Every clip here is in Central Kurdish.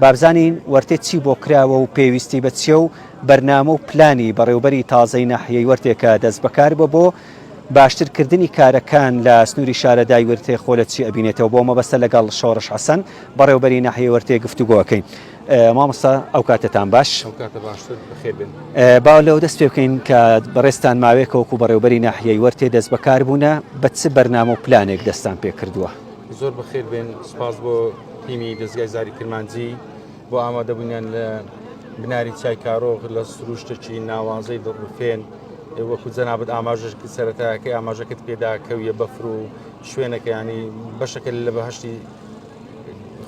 بابزانین وەرتێ چی بۆ کراوە و پێویستی بە چیە و بەرنامە و پلانی بەڕێوبەری تازەی ناحیەی وەرتێکە دەست بەکار بە بۆ باشتر کردنی کارەکان لە سنوری شارەدای ورتێ خۆ لە چی ئەبینێتەوە بۆ مەبەستە لەگەڵ شۆڕش حەسەن بەڕێوبەری ناحیەی وەرتێ گفتوگۆ ئەکەین مامۆستا ئەو کاتتان باش با لەو دەست پێ بکەین کە بەڕێستان ماوێکەوەکو بەڕێوبەری ناحیەی وەرتێ دەست بەکار بوونە بە چ بەرنامە و پلانێک دەستان پێ کردووە زۆر بەخێر بێن سپاس بۆ تیمی دەستگای زاری کرمانجی بۆ ئامادەبوونیان لە بناری چای کارۆخ لە سروشتێکی ناوازەی دڵڕفێن وەکو جەنابەت ئاماژش سەرەتاکەی ئاماژەکەت پێدا کەویە بەفر و شوێنەکەیانی بەشەکە لە بەهشتی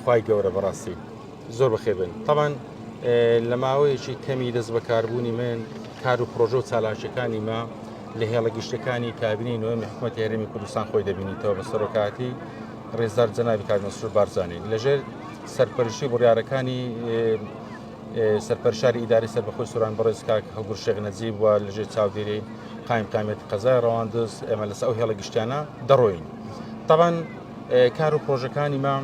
خی گەورە بەڕاستی. زۆر بەخێر بێن تەبان لە ماوەیەکی کەمی دەست بەکاربوونی من کار و پرۆژە و چالاکیەکانی ما لە هێڵە گشتەکانی کابینی نوێمی حکوومەت هەرمی کوردستان خۆی دەبینیتەوە بە سەرۆکاتی ڕێزدار جەناوی کارمەسرور بارزانانی لەژێر سەرپەرشی بڕارەکانی سەرپەرشاری ئیداری سەر بەخۆی سوران بەڕێز کاک هەڵگر شێخ نەجیب و لەژێ چاودێری قایم قامێت قەزای ڕەواندز ئێمە لەس ئەو هێڵە گشتیانە دەڕۆین تاوان کار و پرۆژەکانی مام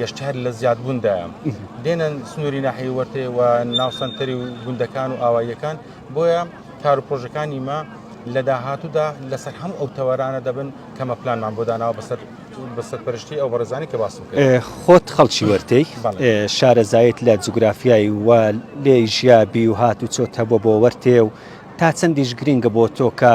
گەشت هەر لە زیادبووندایە دێنن سنووری ناحی وەرتێ و ناوسەنتەری و گوندەکان و ئاواییەکان بۆیە کار و پرۆژەکانی مە لە داهاتوودا لەسەر هەم ئەو تەوەرانە دەبن کەمە پلانمان بۆ داناوە بەسەر بەسەر پرشتی ئەو بەڕێزانی کە باس خۆت خەڵکی وەرتەی شارەزایت لە جوگرافیایی و لێ ژیابی و هات و چۆت هەبوو بۆ وەرتێ و تا چەندیش گرنگە بۆ تۆ کە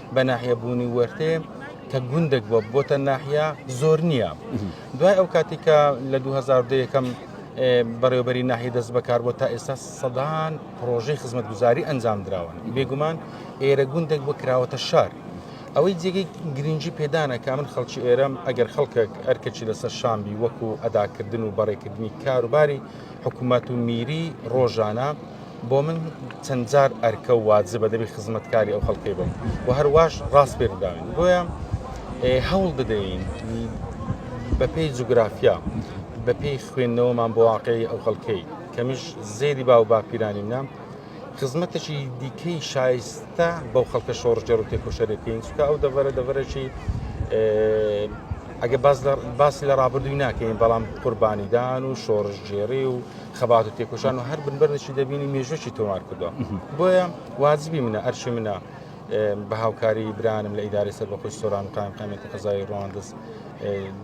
بە ناحیە بوونی وەرتێ کە گوندێک بووە بۆتە ناحیا زۆر نییە دوای ئەو کاتی کە لە 2010 یەکەم بەڕێوبەری ناحی دەست بەکار بۆ تا ئێستا سەدان پرۆژەی خزمەتگوزاری ئەنجام دراون بێگومان ئێرە گوندێک بۆ کراوەتە شار ئەوەی جێگەی گرنگجی پێدانە کا من خەڵکی ئێرەم ئەگەر خەڵکێک ئەرکەچی لەسەر شامبی وەکو ئەداکردن و بەڕێکردنی کاروباری حکوومەت و میری ڕۆژانە بۆ من چەند جار ئەرکە و واجبە دەبی خزمەتکاری ئەو خەڵکەی بم و هەرواش ڕاست پێداوین بۆیە هەوڵ بدەین بەپی جوگرافیا بەپی خوێندنەوەمان بۆ واقعی ئەو خەڵکەی کەمیش زێری با و باپیرانی منە خزمەتێکی دیکەی شایستە بەو خەڵکە شۆڕژێر و تێکۆشەرێکین چکە ئەو دەڤەرە دەڤەرێکی ئەگە باسی لە ڕابردووی ناکەین بەڵام قوربانیدان و شۆڕژگێری و خەبات و تێکۆشان و هەر بنبەرنشی دەبینی مێژوەکی تۆمار کردووە بۆیە واجبی منە ئەرشی منە بە هاوکاری برانم لە ئیداری سەر بە خۆش سۆران و قایم قامێتی قەزای ڕواندز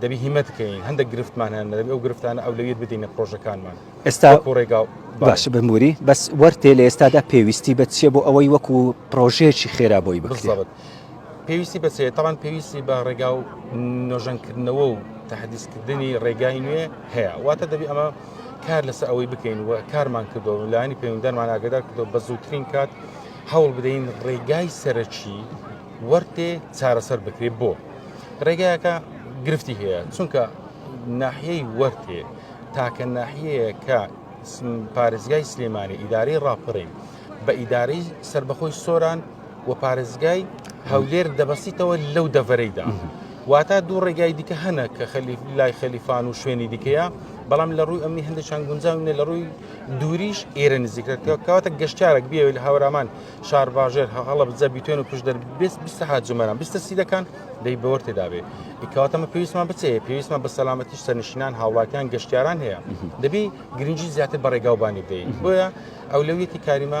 دەبی هیمەت بکەین هەندێک گرفتمان هەن دەبی ئەو گرفتانە ئەو لەویر بدەینە پرۆژەکانمان ئێستا ڕێگا باش بموری بەس وەرتێ لە ئێستادا پێویستی بە چیە بۆ ئەوەی وەکو پرۆژەیەکی خێرا بۆی بکرێت پێویستی بەچێت تاوان پێویستی بە ڕێگا و نۆژەنکردنەوە و تهدیسکردنی ڕێگای نوێ هەیە واتە دەبی ئەمە کار لەسەر ئەوەی بکەین و کارمان کردو لایانی پەیوەندەرمان ئاگدار کردو بە زووترین کات هەوڵ بدەین ڕێگای سەرەکی وەرتێ چارەسەر بکرێت بۆ ڕێگایەکە گرفتی هەیە چونکە ناحیەی وەرتێ تاکە ناحیەیە کە پارێزگای سلێمانی ئیدارەی ڕاپەڕین بە ئیدارەی سربەخۆی سۆران و پارێزگای هەولێر دەبەستیتەوە لەو دەڤەرەیدا واتا دوو ڕێگای دیکە هەنە کە خەلیف لای خەلیفان و شوێنی دیکەیە بەڵام لە ڕووی ئەمنی هەندێکیان گونجاونێ لە ڕووی دووریش ئێرە نزیکەکە کەواتە گەشتارێک بێ لە هاورامان شارباژێر هەڵە بزە بیتێن و پشدەر بێست بیست هاجمەران بیستە سیدەکان دەی بەوە تێدابێ کەواتەمە پێویستمان بچێ پێویستمان بە سەلامەتی سەرنشینان هاوڵاتیان گەشتیاران هەیە دەبی گرنگی زیاتر بەڕێگاوبانی بدەین بۆیە ئەولەویەتی کاریمە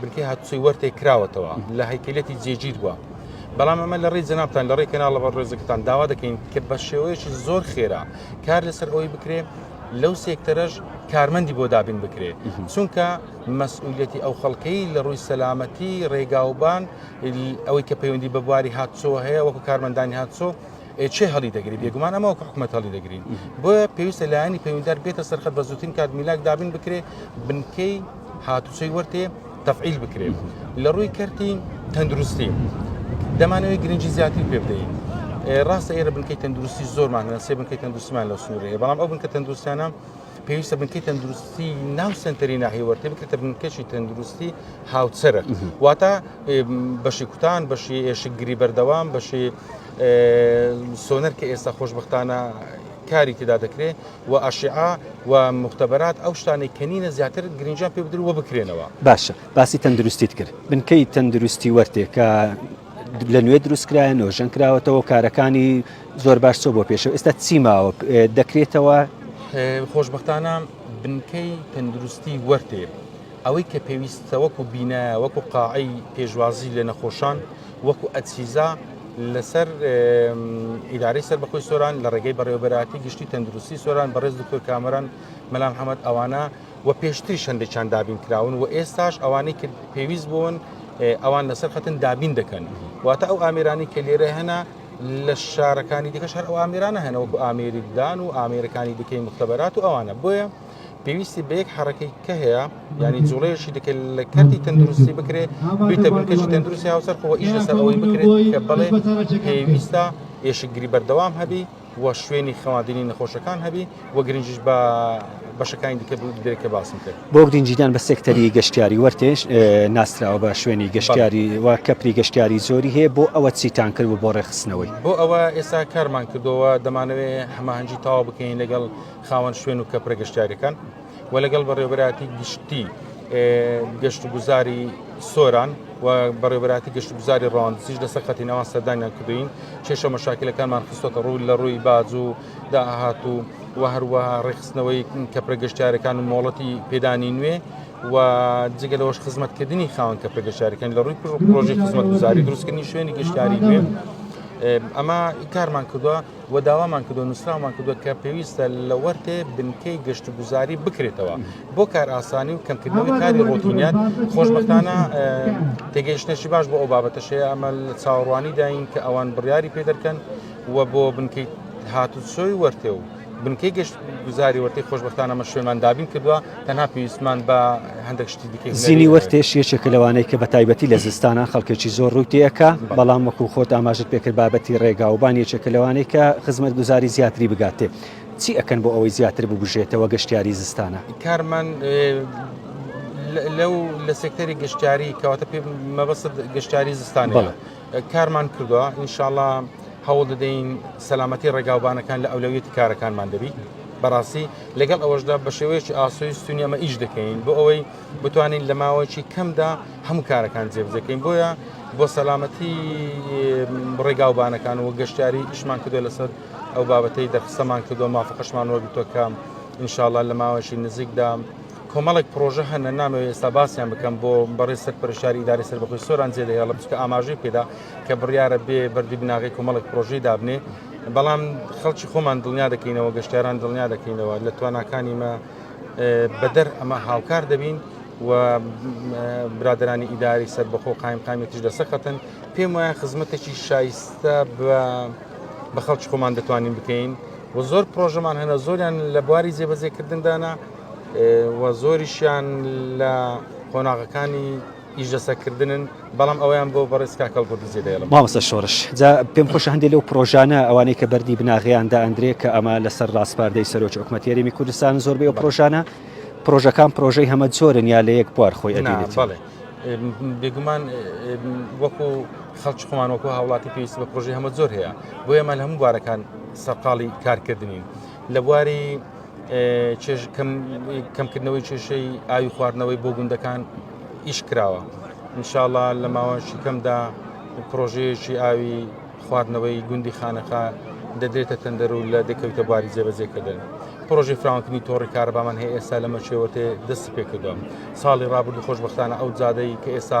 بنکەی هاتوچۆی وەرتێک کراوەتەوە لە هەیکلەتی جێگیر بووە بەڵام ئەمە لە ڕێی جنابان لە ڕێی کەناڵە بە ڕێزەکەتان داوا دەکەین کە بە شێوەیەکی زۆر خێرا کار لەسەر ئەوی بکرێ لەو سێکتەرەش کارمەندی بۆ دابین بکرێت چونکە مەسئولەتی ئەو خەڵکەی لە ڕووی سەلامەتی ڕێگاوبان ئەوەی کە پەیوەندی بە بواری هاتچۆ هەیە وەکو کارمەندانی هاتچۆ چێ هەڵی دەگری بێگومان ئەمە وەک حکوومەت هەڵی دەگرین بۆیە پێویستە لایەنی پەیوەندار بێتە سەرخەت بە زووترین کات میلاک دابین بکرێ بنکەی هاتوچەی وەرتێ تەفعیل بکرێت لە ڕووی کەرتی تەندروستی دەمانەوەی گرنگجی زیاتری پێ بدەین ڕاستە ئێرە بنکەی تەندروستی زۆرمان هەن سێ بنکەی تەندروستمان لە سنوورەیە بەڵام ئەو بنکە تەندروستانە پێویستە بنکەی تەندروستی ناو سنتەری ناهێوەرتێ بکرێتە بنکەشی تەندروستی هاوچەرە واتە بەشی کوتان بەشی ئێشکگری بەردەوام بەشی سۆنەر کە ئێستا خۆشببختانە کاری تێدا دەکرێت و ئاشعا و مختبرات ئەو شتانێک کەنینە زیاتر گرنجان پێ بدرو بکرێنەوە باشە باسی تەندروستیت کرد بنکەی تەندروستی وەرتێکە لە نوێ دروستکرایە نۆژەن کراوەتەوە کارەکانی زۆر باش چۆ بۆ پێشەوە ئێستا چیماوە دەکرێتەوە خۆشببختانە بنکەی تەندروستی وەرتێ ئەوەی کە پێویستە وەکو بینایە وەکو قاعی پێشوازی لە نەخۆشان وەکو ئەچیزا لەسەر ئیدارەی سەربەخۆی سۆران لە ڕێگەی بەڕێوەبەراتی گشتی تەندروستی سۆران بەڕێز دکتۆر کامەران مەلا محەممەد ئەوانە و پێشتری شەندێکیان دابین کراون و ئێستاش ئەوانەی کرد پێویست بوون ئەوان لەسەر خەتن دابین دەکەن واتە ئەو ئامرانی کە لێرە هەنا لە شارەکانی دیکەش هەر ئەو ئامرانە هەنەوەکو ئامێریدان و ئامێرەکانی دیکەی مختبەرات و ئەوانە بۆیە پێویستی بە یەک حرەکەی کە هەیە ینی جوڵەیەشی دەکە لە کەرتی تەندروستی بکرێت بیتە بنکەشی تەندروستی هاوسەر خۆ ئیش لەسەر ئەوەی بکرێت کە بڵێ پێویستە ئێشکگری بەردەوام هەبی و شوێنی خەواندنی نەخۆشەکان هەبی و گرنجش بە بەشەکانی دیکە درێکە باسم کرد بۆ گرنجیدان بە سێکتەری گەشتیاری وەرتێش ناسراوە بە شوێنی گەشتیاری و کەپری گەشتیاری زۆری هەیە بۆ ئەوە چیتان کرد و بۆ ڕێخستنەوەی بۆ ئەوە ئێستا کارمان کردەوە دەمانەوێت هەماهەنگی تاوا بکەین لەگەڵ خاوەن شوێن و کەپرە گەشتیاریەکان و لەگەڵ بەڕێوبەراتی گشتی گەشت و گوزاری سۆران و بەڕێبراتی گەشت گوزاری ڕاندزیش لەسەر خەتی ناوان سەردانیان کردین کێشە مەشاکلەکانمان خستۆتە ڕووی لە ڕووی باز و داهات و و هەروەها ڕێخستنەوەی کەپرە گەشتارەکان و مۆڵەتی پێدانی نوێ و جگە لەوەش خزمەتکردنی خاوەن کەپرە گەشتارەکان لە ڕووی پرۆژی خزمەت گوزاری دروستکردنی شوێنی گەشتاری نوێ ئەمە کارمان کردووە و داوامان کردووە نووسراومان کردووە کە پێویستە لە وەرتێ بنکەی گەشتوگوزاری بکرێتەوە بۆ کارئاسانی و کەمکردنەوەی کاری ڕۆتینیان خۆشبەختانە تێگەیشتنێکی باش بۆ ئەو بابەتەشەیە ئەمە لە چاوەڕوانی داین کە ئەوان بڕیاری پێ دەکەن و بۆ بنکەی هاتوچۆی وەرتێ و بنکەی گەشت گوزاری وەرتی خۆشببختانەمە شوێنمان دابین کردووە تەنها پێویستمان بە هەندێک شتی دیکە زینی وەرتێش یەکێکە لەوانەی کە بە تایبەتی لە زستانە خەڵکێکی زۆر ڕووی تێەکە بەڵام وەکو خۆت ئاماژت پێکرد بابەتی ڕێگا و بان یەکێکە لەوانەی کە خزمەت گوزاری زیاتری بگاتێ چی ئەکەن بۆ ئەوەی زیاتر ببژێتەوە گەشتیاری زستانە کارمان لەو لە سێکتەری گەشتیاری کەواتە پێ مەبەست گەشتیاری زستانەوە. کارمان کردووە ئینشاءاللە هەوڵ دەدەین سەلامەتی ڕێگاوبانەکان لە ئەولەویەتی کارەکانمان دەبی بەڕاستی لەگەڵ ئەوەشدا بە شێوەیەکی ئاسۆی سونی ئەمە ئیش دەکەین بۆ ئەوەی بتوانین لە ماوەیەکی کەمدا هەموو کارەکان جێبجەکەین بۆیە بۆ سەلامەتی ڕێگاوبانەکان و گەشتاری ئیشمان کردو لەسەر ئەو بابەتەی دەرخستەمان کردو مافقشمان وەرگتوەکەم انشاءله لە ماوەشی نزیکدا کۆمەڵێک پرۆژە هەنە نامەوێت ئێستا باسییان بکەم بۆ بەڕێ سەر پرشاری داری سەر بەخۆی سۆران جێ دەهێڵم چکە ئاماژەی پێدا کە بڕیاە بێ بەردی بناغی کۆمەڵێک پرۆژەی دابنێ بەڵام خەڵکی خۆمان دڵنیا دەکەینەوە گەشتاران دڵنیا دەکەینەوە لە تواناکانی مە بەدەر ئەمە هاوکار دەبین و برادرانی ئیداری سەر بەخۆ قایم قامێتیش لە سەقەتن پێم وایە خزمەتێکی شایستە بە خەڵکی خۆمان دەتوانین بکەین و زۆر پرۆژەمان هەنە زۆریان لە بواری جێبەجێکردندانا و زۆریشیان لە قۆناغەکانی ئیشدەسەکردنن بەڵام ئەویان بۆ بەڕێز کاکەڵ گردزی دەێڵم مامەسە شۆرش جا پێم خۆش هەندێ لەو پرۆژانە ئەوانەی کە بەردی بناغیان دا ئەندرێ کە ئەمە لەسەر ڕاستپاردەی سەرۆکی حکومەت یاریمی کوردستان زۆربەی ئەو پرۆژانە پرۆژەکان پرۆژەی هەمە زۆرن یا لە یەک بوار خۆی ئەدێت بەڵێ بێگومان وەکو خەڵکی خۆمان وەکو هاوڵاتی پێویست بە پرۆژی هەمە زۆر هەیە بۆ ئێمە لە هەموو بوارەکان سەرقاڵی کارکردنین لە بواری کەمکردنەوەی کێشەی ئاوی خواردنەوەی بۆ گوندەکان ئیش کراوە انشاءله لە ماوەشی کەمدا پرۆژەیەکی ئاوی خواردنەوەی گوندی خانەقا دەدرێتە تەندەر و لە دەکەوتە باری جێبەجێکردن پرۆژی فراونکردنی تۆڕی کارەبامان هەیە ئێستا لەمە چێوەێ دەستی پێکردووە ساڵی ڕابردو خۆشببختانە ئەو جادەی کە ئێستا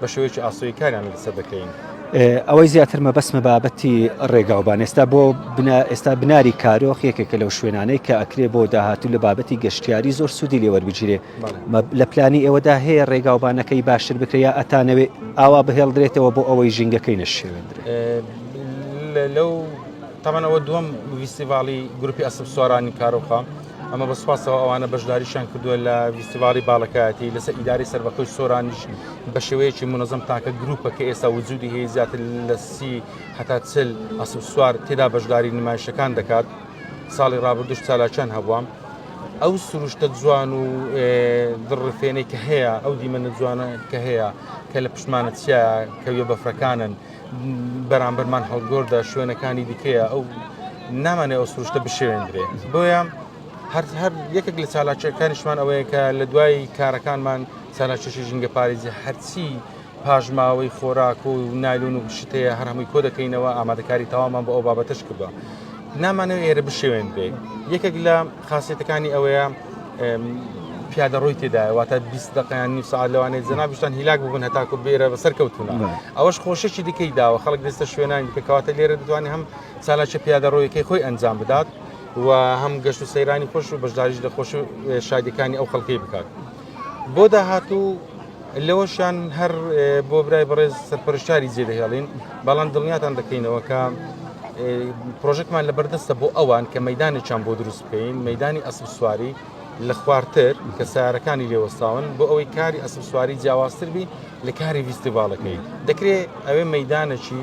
بە شێوەیەکی ئاسۆیی کاریان لەسەر دەکەین. ئەوەی زیاتر مەبەستمە بابەتی ڕێگاوبان ئێستا بۆ ئێستا بناری کارۆخ یەکێکە لەو شوێنانەی کە ئەکرێ بۆ داهاتوو لە بابەتی گەشتیاری زۆر سوودی لێوەربگیرێ لە پلانی ئێوەدا هەیە ڕێگاوبانەکەی باشتر بکرێ ئەتانەوێ ئاوا بهێڵدرێتەوە بۆ ئەوەی ژینگەکەی نەشێوێندرێ لەو تەمەەوە دووەم ویستیڤاڵی گروپی ئەسب سوارانی کارۆخە ئەمە بە سوپاسەوە ئەوانە بەشداریشان کردووە لە ویستیڤاڵی باڵەکایەتی لەسەر ئیداری سەربەخۆی سۆرانیش بە شێوەیەکی منەزم تاکە گروپە کە ئێستا وجودی هەیە زیاتر لە سی هەتا چل ئەسب سوار تێدا بەشداری نمایشەکان دەکات ساڵی ڕابردوش چالاکیان هەبووە ئەو سروشتە جوان و دڕفێنێک کە هەیە ئەو دیمەنە جوانە کە هەیە کە لە پشمانە چیا کەویە بەفرەکانن بەرامبەرمان هەڵبگۆردە شوێنەکانی دیکەیە ئەو نامانێ ئەو سروشتە بشێندرێ بۆیە هەر هەر یەکێک لە چالاکیەکانیشمان ئەوەیە کە لە دوای کارەکانمان چالاکیشی ژینگە پارێزی هەرچی پاشماوەی خۆراک و نایلون و شتەیە هەر هەمووی کۆ دەکەینەوە ئامادەکاری تەوامان بۆ ئەو بابەتش کردووە نامانەوە ئێرە بشێوێن بێ یەکێک لە خاسیەتەکانی ئەوەیە پیادە ڕووی تێدایە واتە 20 دقیان نی ساعت لەوانێت جنابشتان هیلاک ببن هەتاکو بێرە بەسەر کەوتونە ئەوەش خۆشەکی دیکەی داوە خەڵک دەستە شوێنانی دیکە کەواتە لێرە دەتوانانی هەم سالاچە پیادە ڕۆیەکەی خۆی ئەنجام بدات و هەم گەشت و سەیرانی خۆش و بەشداریش لە خۆش شادەکانی ئەو خەڵکەی بکات بۆ داهاتوو لەوەشیان هەر بۆ برای بەڕێز سەرپەرشتاری جێ دەهێڵین بەڵام دڵنیاتان دەکەینەوە کە پرۆژێکمان لە بەردەستە بۆ ئەوان کە مەدانێکیان بۆ دروست بکەین مەدانی ئەسب سواری لە خوارتر کە سارەکانی لێوەستاون بۆ ئەوەی کاری ئەسب سواری جیاوازتر بی لە کاری ویستیڤالەکەی دەکرێت ئەوێ مەدانەکی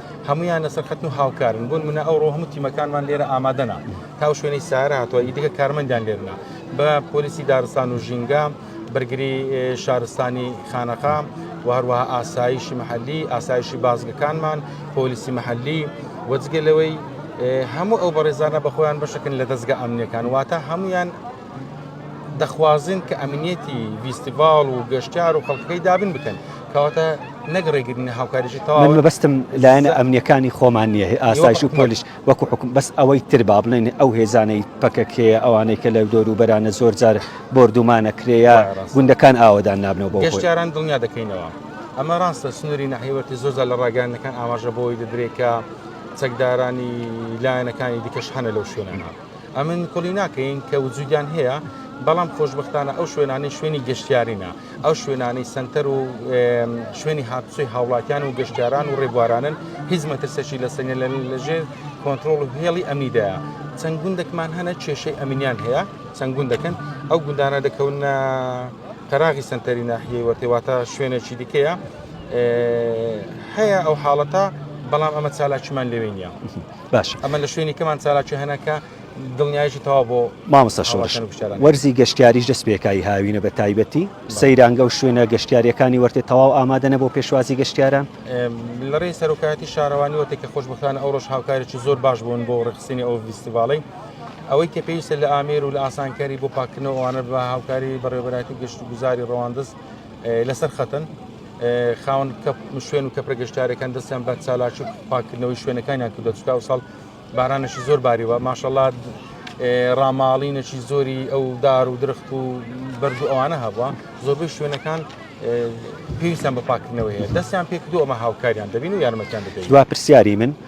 هەمویان لەسەر خەتن و هاوکارن بۆن منە ئەو ڕۆ هەموو تیمەکانمان لێرە ئامادەنا تاو شوێنی سارە هاتووە ئیدیکە کارمەندیان لێرنا بە پۆلیسی دارستان و ژینگە بەرگری شارستانی خانەقام و هەروەها ئاسایشی محلی ئاسایشی بازگەکانمان پۆلیسی محلی وەجگە لەوەی هەموو ئەو بەڕێزانە بەخۆیان بەشەکن لە دەستگە ئەمنیەکان واتە هەمویان دەخوازن کە ئەمنیەتی ڤیستیڤاڵ و گەشتار و خەڵکەکەی دابن بکەن کەواتە نەک ڕێگرنی هاوکاریشی تاوە بەستم لایەنە ئەمنیەکانی خۆمان نییە ئاسایش و پۆلیش وەکو حکوم بەس ئەوەی تر با بڵێن ئەو هێزانەی پەکەکەیە ئەوانەی کە لە دۆر و بەرانە زۆر جار بردومانە کرێە گوندەکان ئاوادان نابنەوە بۆ گەشتاران دڵنیا دەکەینەوە. ئەمە ڕاستە سنووری ناحیوەتی زۆزە لە ڕاگەیانەکان ئاماژە بۆی دەدرێت کە چەکدارانی لایەنەکانی دیکەش هەنە لەو شوێنانە. ئەمن کوڵی ناکەین کە وجودیان هەیە بەڵام خۆشببختانە ئەو شوێنانی شوێنی گەشتیارینە ئەو شوێنانی سنتەر و شوێنی هاتوچی هاوڵاتیان و گەشتیاران و ڕێبوارانن هیچ مەترسەشی لە سنگە لە لەژێر کۆنتترۆل و هێڵی ئەمیدا چەند گوندێکمان هەنە کێشەی ئەمینیان هەیە چەند گوند دەکەن ئەو گوندانە دەکەونە تەراغی سنتەری ناحیەی وەتێواتە شوێنێکی دیکەیە هەیە ئەو حاڵەتە بەڵام ئەمە چالاکیمان لەوێ نیە. باش ئەمە لە شوێنی کەمان چالاکی هەنەکە دڵنیایشی تەوا بۆ مامۆستا شۆڕش وەرزی گەشتیاریش دەست پێکایی هاوینە بە تایبەتی سەیرانگە و شوێنە گەشتیاریەکانی وەرتێ تەواو ئامادەە بۆ پێشوازی گەشتیاران لە ڕێی سەرۆکایەتی شارەوانی وەتێک کە خۆشببخانە ئەو ڕۆژ هاوکارێکی زۆر باش بوون بۆ ڕخسینی ئەو ویستیڤڵی ئەوەی کە پێویستە لە ئامێر و لە ئاسانکاری بۆ پاکردنەوەوانە بە هاوکاری بەڕێوەبەتی گەشت و گوزاری ڕەواندز لەسەر خەتن خاون شوێن و کەپرە گەشتارەکان دەستیان بە چالاکی پاکردنەوەی شوێنەکانیان کردە چکا و ساڵ بارانەشی زۆر باریوە ماشەڵات ڕاماڵینەکی زۆری ئەو دار و درخت و بەرد و ئەوانە هەبووە زۆربەی شوێنەکان پێویستیان بە پاکردنەوەیە دەستیان پێکردو ئەمە هاوکاریان دەبین و یارمەتیان دەبێت پرسیاری من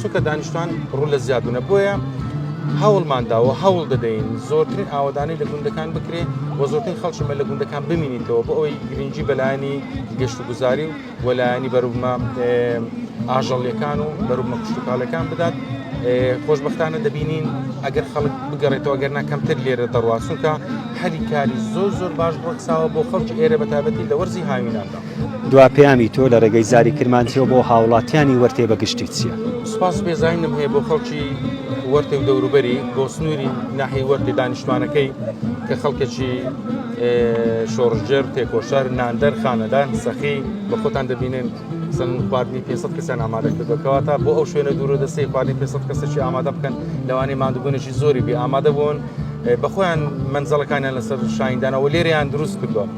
چونکە دانیشتوان ڕوو لە زیادونە بۆیە هەوڵماندا و هەوڵ دەدەین زۆرترین ئاوادانی لە گوندەکان بکرێ و زۆرترین خەڵکیمە لە گوندەکان بمینیتەوە بۆ ئەوەی گرنگجی بەلایانی گەشت و گوزاری و وەلایانی بەروبمە ئاژەڵیەکان و بەروبمە کوشتتوکالەکان بدات خۆشببختانە دەبینین ئەگەر خەڵک بگەڕێتەوە گەر ناکەمتر لێرە دەڕواستونکە هەلی کاری زۆر زۆر باش بڕکساوە بۆ خەڵکی ئێرە بەتابەتی لە وەرزی هاویناندا. دوا پەیامی تۆ لە ڕێگەی زاری کرمانجیەوە بۆ هاوڵاتیانی وەرتێ بە گشتی چییە؟ سوپاس بێزانینم هەیە بۆ خەڵکی وەرتێ و دەوروبەری بۆ سنووری ناحی وەرتی دانیشتوانەکەی کە خەڵکێکی شۆڕژێر تێکۆشار ناندەر خانەدان سەخی بە خۆتان دەبینن سن خواردنی 500 کەسیان ئامادە کردەکەەوە تا بۆ ئەو شوێنە دوورە دەستی خواردنی 500 کەسێکی ئامادە بکەن لەوانی مادوبوونێکی زۆری بێ ئامادە بوون بەخۆیان منزەڵەکانیان لەسەر شایندانەوە لێریان دروست کردووە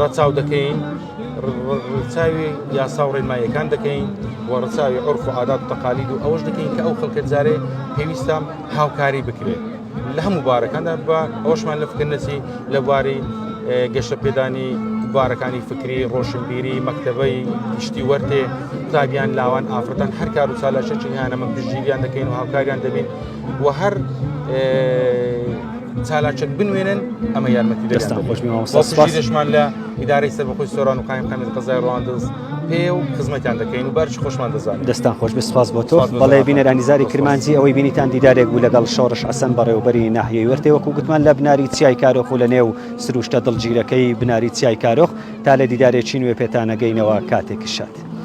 ڕەچاو دەکەین ڕچاوی یاسا و ڕێنماییەکان دەکەین و ڕچاوی عرف و عادات تەقالید و ئەوش دەکەین کە ئەو خەڵکە جارێ پێویستم هاوکاری بکرێت لە هەموو بارەکاندا بە ئەوشمان لە فکردنەچی لە بواری گەشە پێدانی بارەکانی فکری ڕۆشنبیری مەکتتەبەی گشتی وەرتێ قوتابیان لاوان ئافرەتان هەر کار و چالاشێکی هیانەمە پشتگیریان دەکەین و هاوکاریان دەبین و هەر چالاکێک بنوێنن ئەمە یارمەتی دەستمان لە ئیدارەی سەر بەخۆی سۆران و قایم قەمێت قەزای ڕواندز پێ و خزمەتیان دەکەین و بەرش خۆشمان دەزان دەستان خۆش بسپاس بۆ تۆ بەڵێ بینەرانیزاری کرمانجی ئەوەی بینیتان دیدارێک بوو لەگەڵ شۆڕش ئەسەن بەڕێوبەری ناحیەی وەرتێ وەکو گوتمان لە بناری چیای کارۆخ و لە نێو سروشتە دڵگیرەکەی بناری چیای کارۆخ تا لە دیدارێکی نوێ پێتانەگەینەوە کاتێکی شاد.